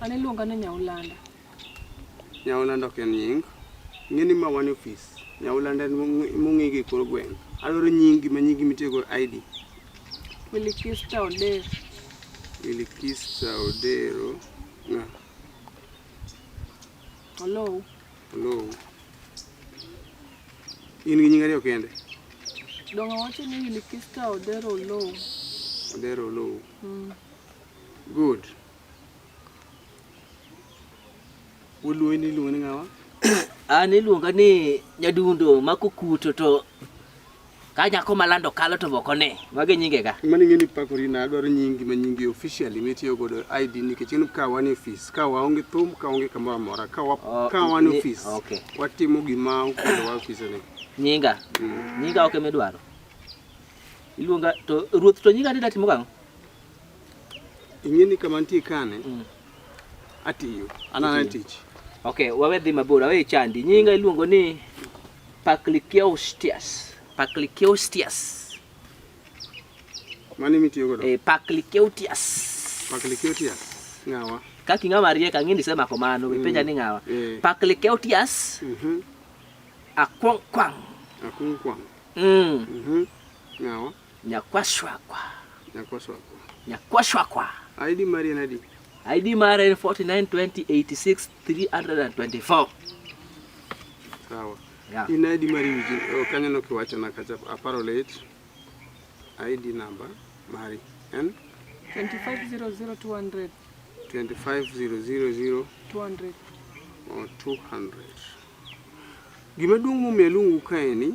An iluonga ni Nyaulanda. Nyaulanda ok en nying. Ng'eni ma wan ofis. Nyaulanda mong'e gi kor gweng'. Adwaro nyingi ma nyingi mitiego ID. Wilikista Odero. Wilikista Odero. Nga. Olou. Olou. In gi nying ariyo kende? Dongo wacho ni Wilikista Odero Olou. Odero Olou. Mm. Good. Uluoyi ni iluongo ni ng'awa? An iluonga ni nyadundo mako kuto to ka nyako malando kalo to boko ne mage nyinge ga mani ngeni pako rina adwaro nyingi ma nyingi officially mitiyo godo ID nikech en ka wan office ka waonge thum ka onge kamoro amora ka wa oh, ka wan office okay. watimo gima okelo wa office ni nyinga mm. nyinga oke okay, midwaro iluonga to ruoth to nyinga ni datimo gang'o Ing'e ni kama nitie kane mm. atiyo anana tich. Okay, wawe dhi mabor, wawe chandi. Nyinga iluongo ni Pacliciaustias. Pacliciaustias. Mani mitiyo godo? Eh, Pacliciaustias. Pacliciaustias. Ngawa. Kaki ngama rieka ngini sema kwa mano, mm. penja ni ngawa. Eh. Pacliciaustias. Mhm. Mm Akwang kwang. Akwang kwang. Mm. Mhm. Mm ngawa. Nyakwashwakwa. Nyakwashwakwa. Nyakwashwakwa. ID mari en adi? ID mari en 492086324. Sawa. Yeah. In ID mari wiji oh, kanyo no kiwacho na kacha aparo late. ID number mari en 2500200 2500200 or 200. Gima duong' momiyo aluongu kae ni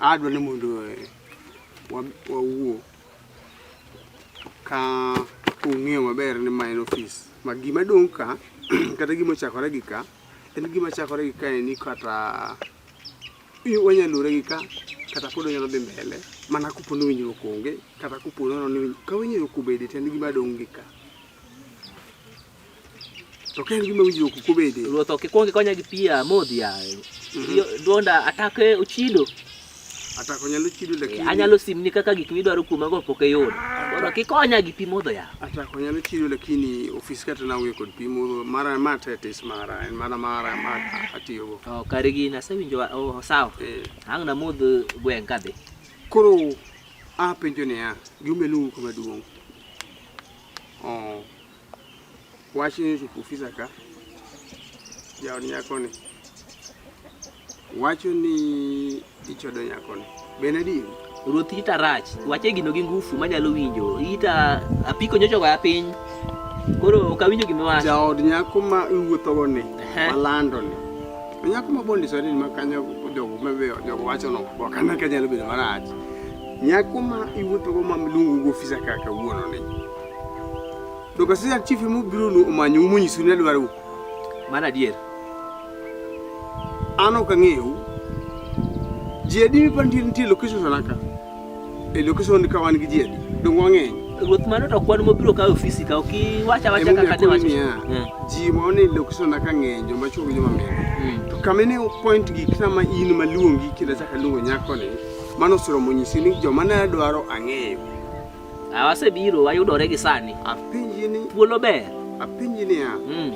adwa ni mondo eh, wawuo ka ung'eyo maber ni ma en ofis ma gima dong' ka kata gima ochakore gi ka en gima chakore gi ka ni kata wanyalo lure gi ka kata pod onyalo dhi mbele mana kopo ni winjruok onge kata kopo ni ka winjruok obede to en gima dong' gi ka To ken gima winjo kuku bende. Ruoth ok ikwong ikonya gi pi amodhi yaye. Mhm. Duonda atake ochido. Atako nyalo chido eh, lakini. Anyalo simni kaka gik midwaro kuoma go pok eyudo. Mondo ah. kikonya gi pi modho yaye. Atako nyalo chido lakini ofis kata na wuyo kod pi modho mara ma tetis mara en mana mara ma atiyo go. Oh, kare gi na sewinjo oh sawa. Eh. Ang na modh gweng kadhi. Koro a penjo ne ya. Gimelu kama duong. Oh. Wach ni ofisa ka jaod nyakoni wacho ni ichodo nyakoni bende adieri ruoth ita rach wache gino gi ngufu manyalo winjo ita apiko nyocho goya piny koro ok awinjo gima wacho jaod nyako ma iwuothogo ni malando ni nyako ma bondisore ni makanyo jogo mabeyo jogo wacho no ok ane ka nyalo bedo marach nyako ma iwuothogo ma luongo gi ofisa kaka wuono ni Dokasiyan chief mu biro nu omanyu munyisu ne dwaru. Mano adier. An ok ang'eyu. Ji adi mi pantie nitie location naka? E location ka wan gi ji adi? Dong wang'eny. Ruoth mano to kwan mobiro kawo ofisi ka ok iwacha wacha kaka ne wacho. Hmm. Ji ma one location naka ng'eny joma chuo gi joma mine. Hmm. To kama ne point gi kama in maluongi kila chaka luongo nyako ni mano siro monyisi ni joma ne dwaro ang'eyo. Ah, wasebiro wayudore gi sani. Apenji ni thuolo ber. Apenji ni ya. Mm.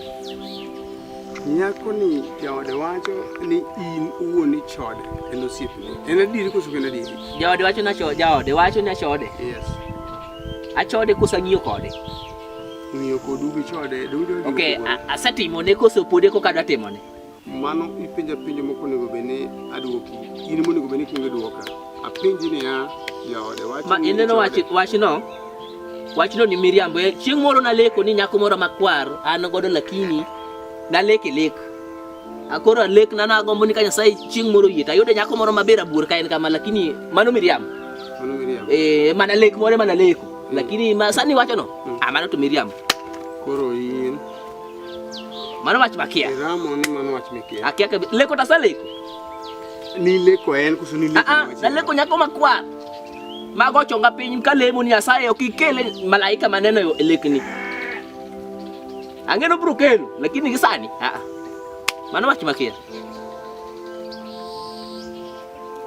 Nyako ni jaode wacho ni in uwuon ni chode en osiepni. En adieri koso en adieri? Jaode wacho na chode, jaode wacho ni achode. Yes. Achode kosa ng'iyo kode. Ng'iyo kodu gi chode. Okay, asetimo ne koso pode koka dwa timo ne. Mano ipenja penjo moko onego bed ni adwoki. In monego bed ni kingo dwoka. Apenji niya, jaode wacho Ma ni ineno jaode- wach wachno? Wachno ni miriambo. Eh, Chieng' moro naleko ni nyako moro makwar an godo lakini naleke lek. Akoro alek na nagombo ni ka Nyasaye chieng' moro yie tayude nyako moro maber abuor ka en kama lakini mano miriambo. Mano miriambo. Eh, mana lek moro mana leko. Lakini ma sani wachono, Mm. ah, mano to miriambo. Koro in Mano wach makia. Ramo ni mano wach makia. Akia ke leko ta sale. Ni leko en kusu ni leko. Ah, ah na leko nyako makwa. Mago chonga piny ka lemo ni asaye okikele malaika maneno yo elekni. Angeno bro kelo lakini gisani. Ah, ah. Mano wach makia.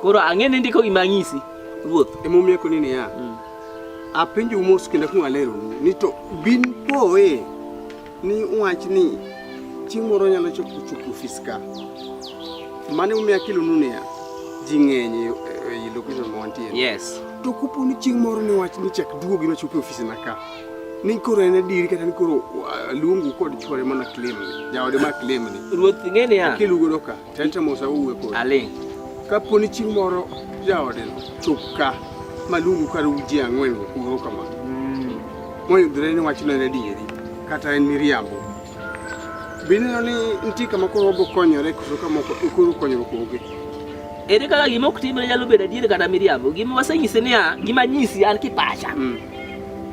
Koro ang'e ni ndiko gima ng'isi ruoth. Emomiyo koni niya. Mm. Apenjo mos kendo kung alero ni to bin poe ni wach ni chieng' moro nyalo chopo chopo ofis ka mane umiya kilo nunia ji ng'eny e, e, e location ma wantie yes to kopo ni chieng' moro ni wach ni chak duogo gino chopo ofis na ka ni koro en adiri kata ni koro uh, luongu kod chwore mana claim ni jaode ma claim ni ruoth ng'e niya kilugo doka Tete Musa owuwe kodi. Aling'. Kapo ni chieng' moro jaodeno chop ka maluongu kar uji ang'wen uro kama. Mm. Moyudre ni wachno en adieri kata en miriambo. Bineno ni nitie kama koro obo konyore koso kama koro konyruok onge. Ere kaka gima ok timre nyalo bedo adieri kata miriambo. Gima wasenyisi niya, gima nyisi an kipacha. Mm.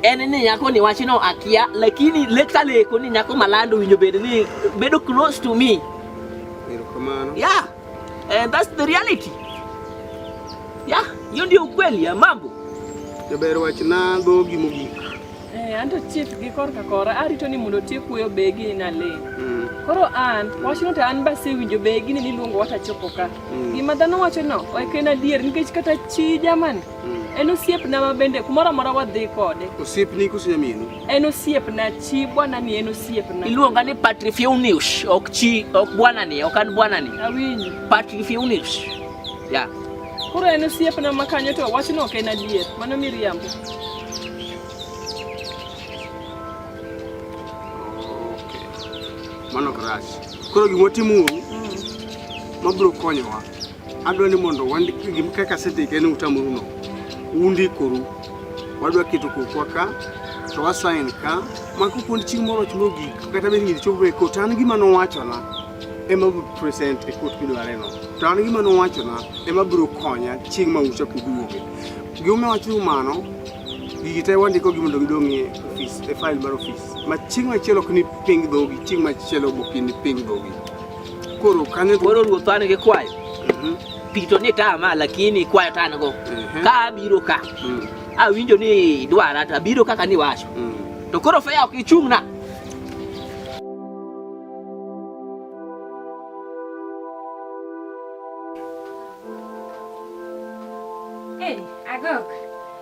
en ni nyako ni wachno akia lakini leka leko ni nyako malando winjo bed ni bedo close to me Yeah. And that's the reality. Yeah, hiyo ndio ukweli ya mambo. Jaber wach na go gi mogik. Eh, anto chief gi korka kora arito ni mondo tie kuyo begi na le. Mm. Koro an wach no to an ba se winjo begi ni niluongo wata chopo ka. Mm. Gima dhano wacho no, ok en adier nikech kata chi jamani. Mm. En osiep na mabende kumoro amora wadhi kode. Osiep ni kusinyamini. En osiepna, chi bwana ni en osiepna. Iluonga ni Patrick Fiunius, ok chi, ok bwana ni, ok an bwana ni. Awinji. Patrick Fiunius. Ya. Koro en osiepna ma kanyo to wachno ok en adier. Mano miriambo. Okay. Mano ok rach. Koro gima watimuru mm. mabiro konyowa Adwa ni mondo wandik kaka asendik en utamoru no. Undikoru. Wadwa keto kokwa ka to wasain ka mako kuond chieng' moro och mogik kata bed ng'id chopo e kot an gima nowachona ema bro present e kot midware no to an gima nowachona ema bro konya chieng' ma ucha kuduoge gima wacho mano gigi te wandiko gi mondo gidong' e ofis e file mar ofis ma chieng' machielo ok ni ping dhogi chieng' machielo bok ni ping dhogi Koro kanyo koro ruoth an gi kwayo. Mhm. Pito ni tama lakini kwayo tan go. Mhm. Ka abiro ka. Mm. Awinjo ni dwara to abiro kaka ni wacho. Mm. To koro fea ok ichung'na.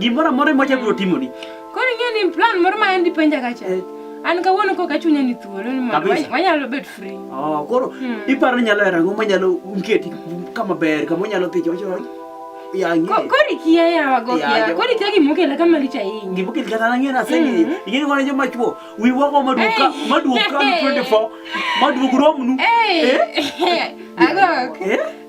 Gimoro amora ma wachako timoni. Koro ing'eyo ni plan moro ma en dipenja kacha. Eh. An kawuono kok achunya ni thuolo ni mondo wanyalo bet free. Oh, koro hmm. iparo ni nyalo rango manyalo mketi kama ber kama onyalo dhi jojo. Kori kia ya wago kia. Kori kia gimokela kama licha hii. Gimokela kata na ngena sengi. Hmm. Ingeni kwa njo machuo. Wi wako maduka, maduka 24. Maduka romnu. Eh. Ago. Eh?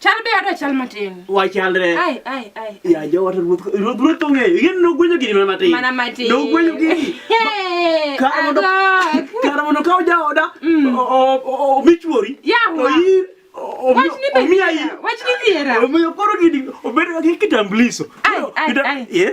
Chal be adwa chal matin. Wachalre. Ai ai ai. Ya jawata ruoth ruoth ruoth to ng'eyo. Yien nogwenyo gini mana matin. Mana matin. Nogwenyo gini. Hey, Kar mondo agok. kar mondo kaw jaoda Mm. o- o- o- omi chuori. Yawa. Oyi- o- Wach ni be omi ayi. dhiera. Wach ni dhiera. Omiyo koro gini obedo gi kitambuliso. Ai, ai, Kita- ai. Eh?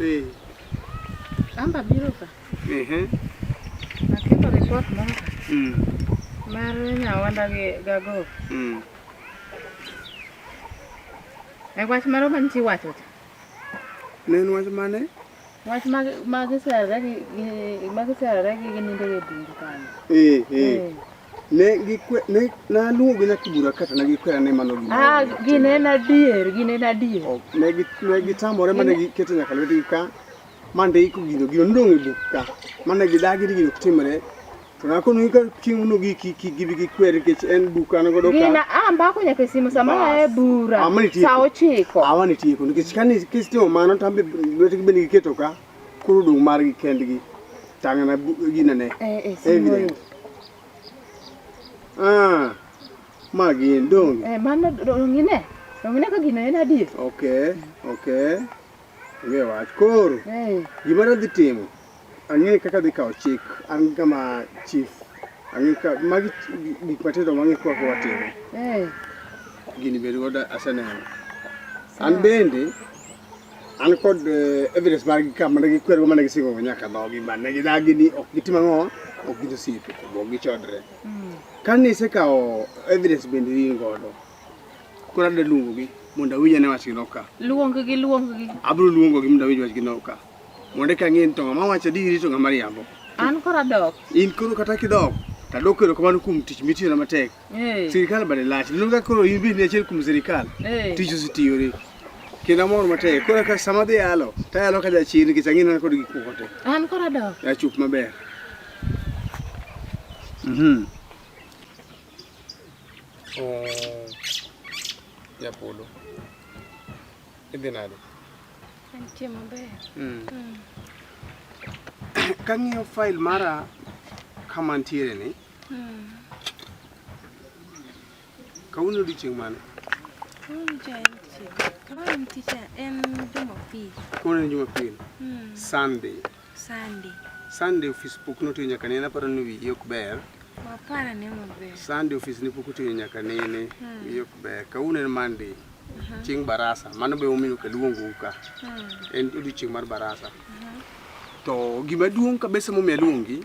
Eh. Amba biro ka. Ehe. Aketo report moro ka. Mm. Mar nyawanda gi gago. Mm. E wach moro man chi wacho cha. Ne en wach mane? Wach mag mag serre gi mag serre gi gini ndege bundu kanyo. Eh eh. Ne gikwe ne naluongo gi nyathi bura kata ne gikwera ni mano gima. Ah, gin en adier, gin en adier. Oh, ne gi ne gitamore mane giketo nyaka lwetgi ka mande iko gino gino ndong' e buk ka mane gidagi ni gino timre to nakono ka chieng' no gi ki ki gibi gi kwer kech en buk an godo ka. Gina amba ko nyaka simu sama e bura. Sa ochiko. Awani tieko nikech kani kistimo mano tambe lwetgi bende giketo ka. Koro dong' margi kendgi. Tang'na ginene. Eh, eh, Evident. Ah, ma gin donge? Eh, mano dong'ine. Dong'ine ka gino en adier. Okay, okay. Onge wach. Koro, eh. gima nadhi timo, ang'e kaka dhi kawo chik, an kama chief. Ang'e ka, magi gik matindo mang'e kwa kwa timo. Eh. Gini bedo godo aseneno. An bende, an kod eh, evidence mar gi kama ne gikwer go mane gisingo go nyaka dhogi ma ne gidagi ni ok gitim ang'o ok gin osiepe ok gichodre hmm. kane isekawo evidence bende in godo koro adwa luongo gi mondo awinj ane wachgi noka luong gi luong gi abiro luongo gi mondo awinj wachgi noka mondo eka ng'e ni to ng'ama wacho adieri to ng'ama riambo an koro adok in koro kata kidok tadok erokamano kuom tich mitiyona matek hey. Eh. sirikal bade lach lulu ka koro in bende achiel kuom sirikal hey. Eh. tich ositiyore kendo amor matek koro ka sama dhi yalo to ayalo ka jachien nikech ang'ina kod gik moko te an koro adok achup maber mhm oh, japolo idhi nade antie maber mm. mm. kang'iyo file mara kama ntiere ni Kawuono odiechieng' mane? Kawuono cha en chieng'. Kawuono en ticha en Jumapil. Kawuono en Jumapil. Hmm. Sunday. Sunday. Sunday ofis pok notiyo nyaka nene aparo ni wiyi ok ber. Wapara ne maber. Sunday ofis ne pok otiyo nyaka nene hmm. wiyi ok ber. Kawuono en Monday. Uh-huh. Chieng' barasa. Mano be omiyo kaluongo ka. Hmm. En odiechieng' mar barasa. Uh-huh. To gima duong' kabisa momiyo aluongi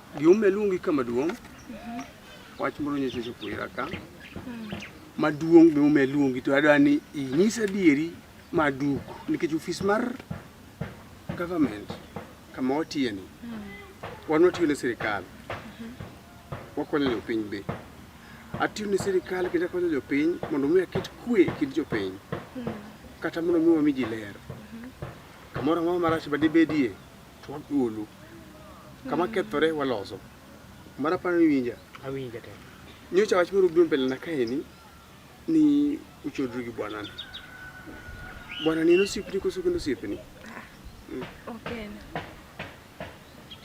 Gima luongi ka maduong' wach moro nyiso chopo ira ka maduong' gima omiyo luongi to adwa ni inyis adieri maduk nikech ofis mar government kama watiyeni wan watiyo ne sirikal wakonyo jopiny be atiyo ne sirikal kendo akonyo jopiny mondo mi aket kwe e kind jopiny kata mondo mi wami ji ler kamoro amora marach ma dibedie to wagolo kama kethore waloso mara paro ni winja awinja te nyocha wach moro biro mbele na kaeni ni uchodri gi bwanani bwanani en osiepni koso kendo osiepni Okay.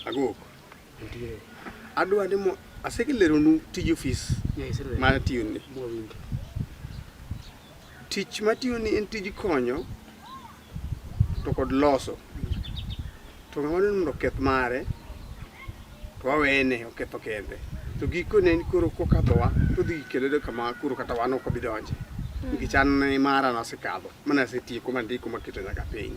agoko nitiere adwa ni mo asekeleronu tij ofis nyaiserwe ma atiyoni mwawinjo Tich matiyoni en tij konyo to kod loso to ng'ama ni mondo oketh mare to wawene oketho kende to gikone ni koro kokadhowa to dhi kelede kama koro kata wan ok obi donje nikech an mara nasekadho mana asetieko mandiko maketo nyaka piny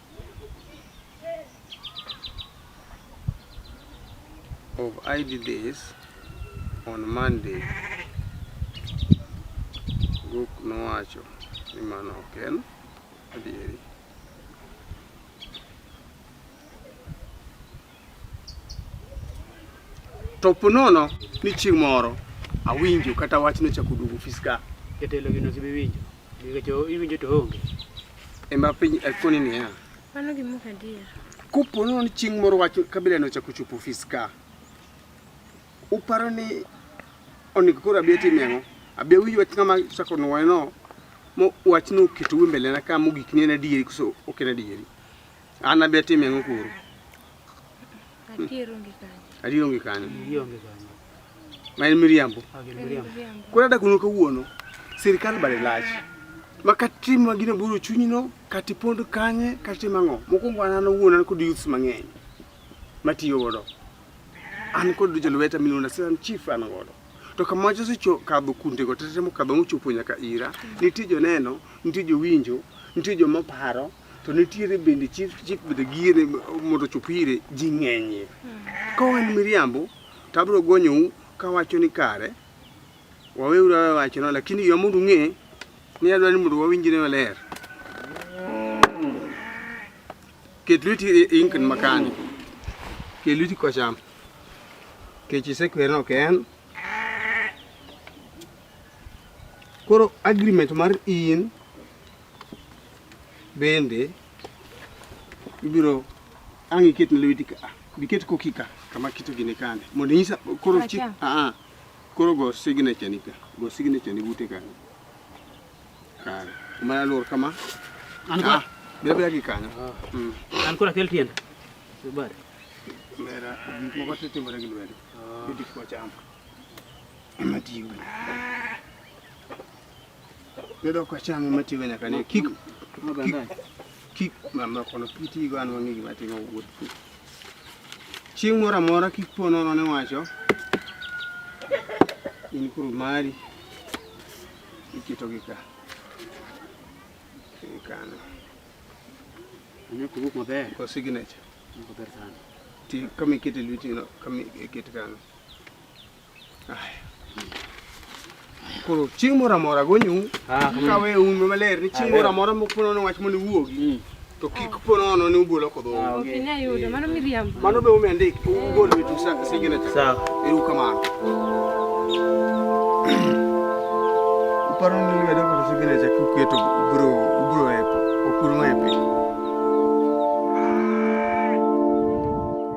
of ID days on Monday. Guk nowacho ni mano ok en adieri. To ponono ni chieng' moro awinjo kata wachno chako duogo ofis ka. Jatelo gino sibi winjo. Nikech iwinjo to onge. Ema piny akoni eh, niya. Mano gima ok adier. Kopo nono ni chieng' moro wach kabila no chako chopo ofis ka. Uparo ni onego koro abi atim ang'o? Abi awinj wach ng'ama chako nwoye no mo wachno oketo mbele na ka mogik ni en adieri koso ok en adieri. An abi atim yango kuro. Adier onge kanyo. Adier onge kanyo. Adier onge kanyo. Ma en miriambo. Koro ada kuno kawuono. Sirkal bade lach. Ma katimo gino buro chunyino, kati pondo kanye, kati mango. Mokuongo an an owuon an kod youths mang'eny matiyo godo. An kod jolweta milona siran chief an godo. To kama wacho secho kadho kunde go tetemo kadho mochopo nyaka ira. Nitie joneno, nitie jowinjo, nitie joma paro to nitiere bende chief chief bende gire mondo chop ire ji ng'enyie ka wan miriambo to abiro gonyou kawacho ni kare waweuru awe wachno lakini yo mondo ung'e ni adwa ni mondo wawinjre maler ket lweti e, e inkin makani ket lweti kocham kech isekwerno ok en koro agreement mar in Bende ibiro ang' iket ne lweti ka biket koki ka kama kito gine kane mondo inyisa koro chi a a koro go signature ni ka go signature ni bute kane kare mana lor kama an ko bebe agi kanyo an kora kel tienda bar mera mo ko tete mara gi lwedo bidik ko cham matiyo Bedo ka cham ema tigo nyaka ne kik kik mama kono kitigo an wang'e gima timo wuoth. Chieng' moro amora kik po nono ne wacho in kuru mari iketogi ka kano Anyo kubuk maber. ko signature Maber sana. ti kama ikete lweti no kama ikete kano koro chieng' moro amora gonyu ah, mm. kawe un maler ni chieng' ah, moro amora moponono wach mondo iwuogi mm. to kik ah. ponono ni ugolo kodho mano be ume ndik ugol wetu signature eru kamano uparo ni medo kod signature kuketo ubro ubro epo okulma epo